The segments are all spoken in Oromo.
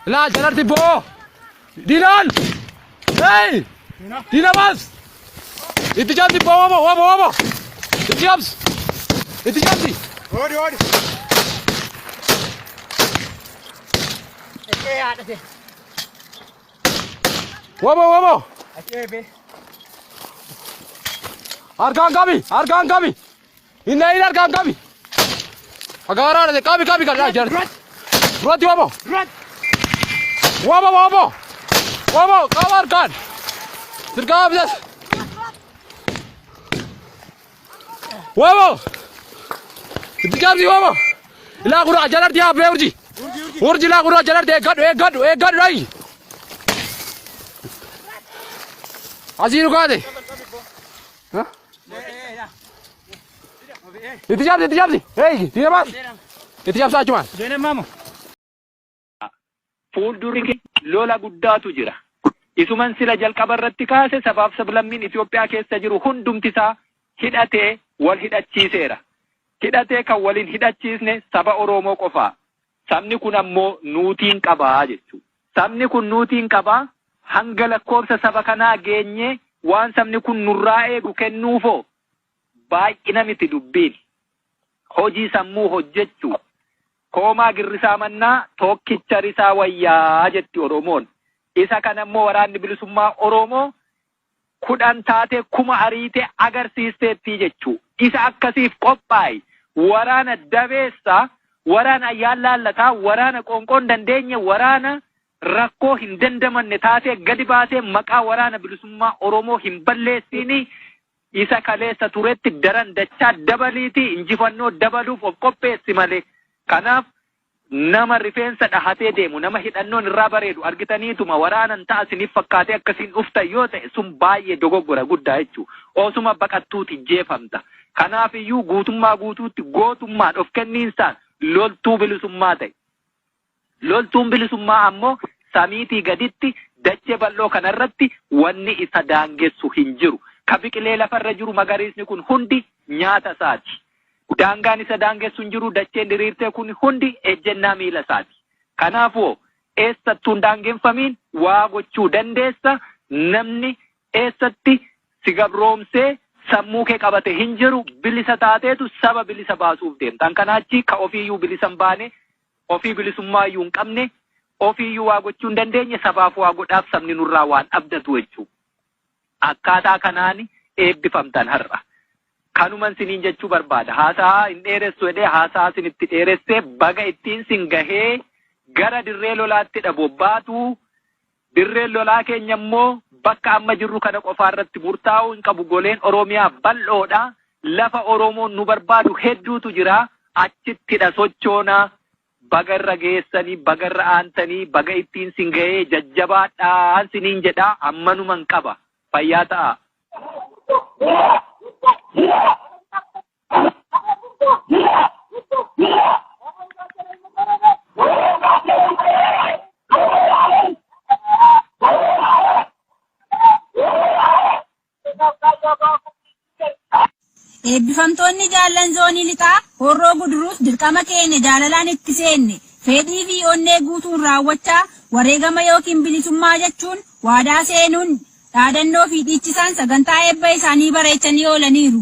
Ilaa jalarti boo! Diinaan! Hey! Diina baas! Itti cabsi boo wabo wabo wabo! Itti cabsi! Itti cabsi! Oodi oodi. Eeyaa dhate. Wabo wabo. Acheebe. Harkaan qabi harkaan qabi. Inna in harkaan qabi. Fagaaraa dhate qabi qabi kan jira. Duratti wabo. Wabo wabo. Wabo qaba harkaan. Dirqama bitas. Wabo. Itti jaabsi wabo. Ilaa kuraa jalarti yaa bee urji. Urji ilaa kuraa jalarti eeggadhu eeggadhu eeggadhu dhayi. Asii dhugaate. Itti jaabsi itti jaabsi. Eegi itti jaabsi. Itti jaabsaa achumaan. Jene mamo. Fuuldurri keenya lola guddaatu jira. Isuman sila jalqaba irratti kaase sabaaf sablammiin Itoophiyaa keessa jiru hundumti isaa hidhatee wal hidhachiiseera. Hidhatee kan wal hin hidhachiisne saba Oroomoo qofaa. Sabni kun ammoo nuutiin qaba jechuu. Sabni kun nuutiin qaba hanga lakkoofsa saba kanaa geenyee waan sabni kun nurraa eegu kennuufoo? Baay'ina miti dubbiin. Hojii sammuu hojjechu. Koomaa girrisaa mannaa tookkicha risaa wayyaa jetti Oromoon. Isa kana immoo waraanni bilisummaa Oromoo kudhan taatee kuma ariite agarsiisteetti jechu. Isa akkasiif qophaa'i. Waraana dabeessa, waraana ayyaan laallataa, waraana qoonqoo hin dandeenye, waraana rakkoo hin dandamanne taatee gadi baatee maqaa waraana bilisummaa Oromoo hin balleessiini Isa kaleessa turetti daran dachaa dabaliitii injifannoo dabaluuf of qopheessi malee. Kanaaf nama rifeensa dhahatee deemu, nama hidhannoon irraa bareedu argitaniituma waraanan ta'a isiniif fakkaatee akkasiin dhuftan yoo ta'e sun baay'ee dogoggora guddaa jechuudha. Osuma baqattuuti jeefamta. Kanaaf iyyuu guutummaa guutuutti gootummaan of kenniinsaan loltuu bilisummaa ta'i. Loltuun bilisummaa ammoo samiitii gaditti dachee bal'oo kana irratti wanni isa daangessu hin jiru. Ka biqilee lafa irra jiru magariisni kun hundi nyaata isaati. Daangaan isa daangessu hin jiru, dacheen diriirtee kun hundi ejjennaa miila isaati. Kanaafuu eessattuu hin daangeffamiin waa gochuu dandeessa, namni eessatti si gabroomsee sammuu kee qabate hin jiru, bilisa taateetu saba bilisa baasuuf deemta. An kanaa achi ka ofii iyyuu bilisa hin baane Ofii bilisummaa iyyuu hin qabne, ofii iyyuu waa gochuu hin dandeenye sabaaf waa godhaaf sabni nurraa waan abdatu jechuu. Akkaataa kanaan eebbifamtan har'a. Kanuman siniin jechuu barbaada. Haasa'aa hin dheeressu jedhee haasa'aa sinitti dheeresse baga ittiin sin gahee gara dirree lolaattidha bobbaatu. Dirreen lolaa keenya immoo bakka amma jirru kana qofaa irratti murtaa'uu hin qabu. Goleen Oromiyaa bal'oo dha. Lafa Oromoon nu barbaadu hedduutu jira. Achittidha sochoona. Baga irra geessanii, baga irra aantanii, baga ittiin sin ga'ee jajjabaadhaan siniin jedha. Ammanuman qaba. Fayyaa ta'aa. Eebbifamtoonni jaallan zoonii lixaa horroo guduruus dirqama keenya jaalalaan itti seenne fedhii fi onnee guutuun raawwachaa wareegama yookiin bilisummaa jechuun waadaa seenuun dhaadannoo fi dhiichisaan sagantaa eebba isaanii bareechanii oolaniiru.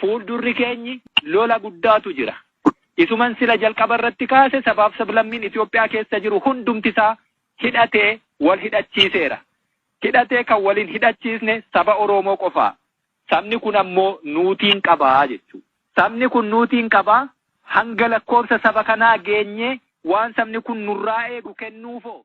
Fuuldurri keenyi lola guddaatu jira. Isuman sila jalqaba irratti kaase sabaaf sablammiin Itoophiyaa keessa jiru hundumti isaa hidhatee wal hidhachiiseera. Hidhatee kan wal hin hidhachiisne saba Oroomoo qofaa. Sabni kun ammoo nuutiin qaba jechuu. Sabni kun nuutiin qaba hanga lakkoofsa saba kanaa geenyee waan sabni kun nurraa eegu kennuufoo?